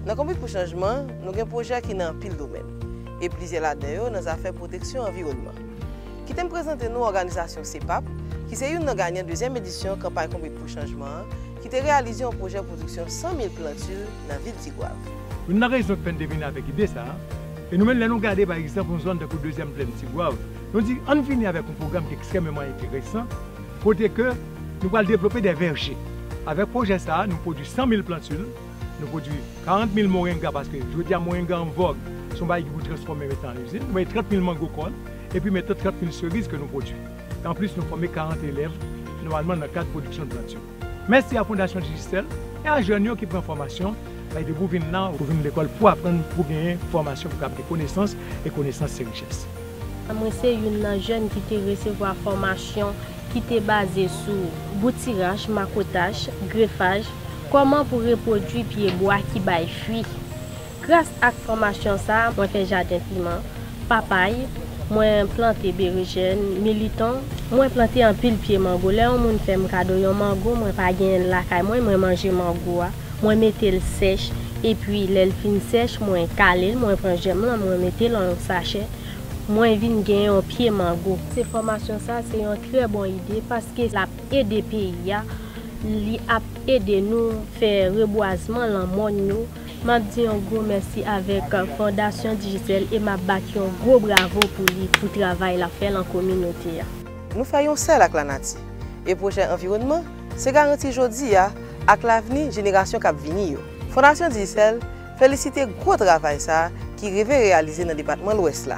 Nan Konbit pou Chanjman, nou gen pwojè ki nan anpil domèn, e plizyè ladan yo nan zafè pwoteksyon anviwònman. Kite m prezante nou òganizasyon CPAP, ki se youn nan ganyan dezyèm edisyon Kanpay Konbit pou Chanjman an, ki te reyalize yon pwojè pwodiksyon 100 mil plantil nan vil Tigwav. Youn nan rezon ki fè n te vini avèk ide sa a, e nou menm lè nou gade pa egzanp yon zòn tankou dezyèm plèn Tigwav, nou di ann vini avèk yon pwogram ki ekstrèmeman enteresan, kote ke nou pral devlope de vèje. Avèk pwojè sa a, nou pwodui 100 mil plantul, nou pwodui 40 mil morenga paske jodi a morenga an vòg, se yon bagay ki pou transfòme mete an izin, nou mete 30 mil mango kòn, epi mete 30 mil seriz ke nou pwodui. E anplis nou fòme 40 elèv nòmalman nan kad pwodiksyon plantul. Mèsi a Fondasyon Digicel e a jèn yo ki pran fòmasyon bay depi w vin la, ou vin lekòl pou aprann, pou genyen fòmasyon, pou w ka ap gen konesans e konesans se richès. Mwen se youn nan jèn ki te resevwa fòmasyon ki te baze sou boutiraj, makotaj, grefaj, kòman pou repwodui pye bwa ki bay fwi. Gras ak fòmasyon sa a, mwen fè jaden piman, papay, mwen plante berejèn, militon, mwen plante anpil pye mango. Lè yon moun fè m kado yon mango mwen pa genyen l lakay mwen, mwen manje mango a. Mwen mete l sèch epi lè l fin sèch mwen kale l mwen pran jèm lan mwen mete lan yon sachè mwen vin gen yon pye mango. Se fòmasyon sa se yon trè bon ide paske lap ede peyi a li ap ede nou fè rebwazman lan mòn yo map di yon gwo mèsi avèk fondasyon Digicel e map bat yon gwo bravo pou li pou travay lap fè lan kominote a. Nou fè yon sèl ak lanati e pwojè anviwònman Se garanti jodi a ak lavni jenerasyon k ap vini yo. Fondasyon Digicel felisite gwo travay sa a ki rive reyalize nan depatman Lwès la.